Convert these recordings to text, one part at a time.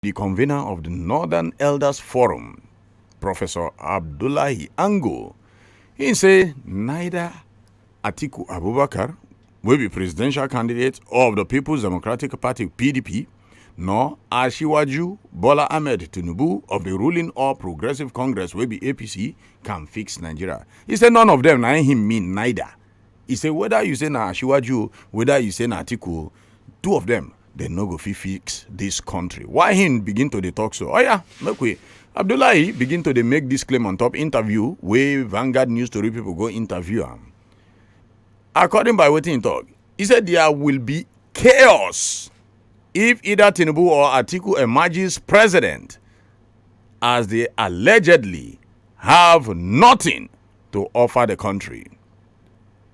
di convener of di northern elders forum professor abdullahi ango im say neither atiku abubakar wey be presidential candidate of di peoples democratic party pdp nor ashiwaju bola ahmed tinubu of di ruling all progressive congress wey be apc can fix nigeria e say none of dem na him mean neither e say whether you say na ashiwaju o whether you say na atiku o two of dem dem no go fit fix dis country why him begin to dey talk so oya make we abdullahi begin to dey make dis claim on top interview wey vanguard news tori pipo go interview am according by wetin he talk he say there will be chaos if either tinubu or atiku emerges president as they allegedly have nothing to offer the country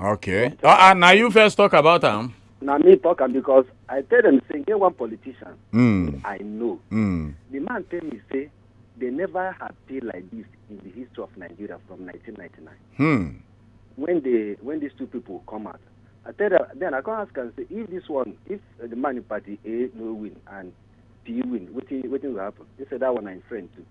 okay ah ah na you first talk about am na me talk am because i tell dem say e get one politician mm. i know mm. the man tell me say they never had tea like this in the history of nigeria from 1999 hmm. when they when these two people come out i tell them then i come ask am say if this one if uh, the man in party a no win and p win wetin wetin go happen he say that one na him friend too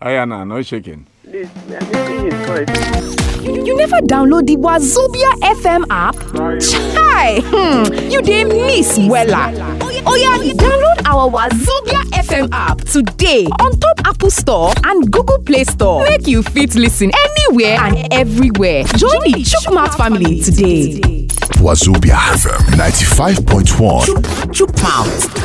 Ayana, no shaking. This, I think it's good. You, you never download the Wazobia FM app? Chai! Hmm, you dey miss wella. Oya, download our Wazobia FM app today on top Apple Store and Google Play Store. Make you fit listen anywhere and everywhere. Join the Chukmat family today. Wazobia FM 95.1. Chukmouth.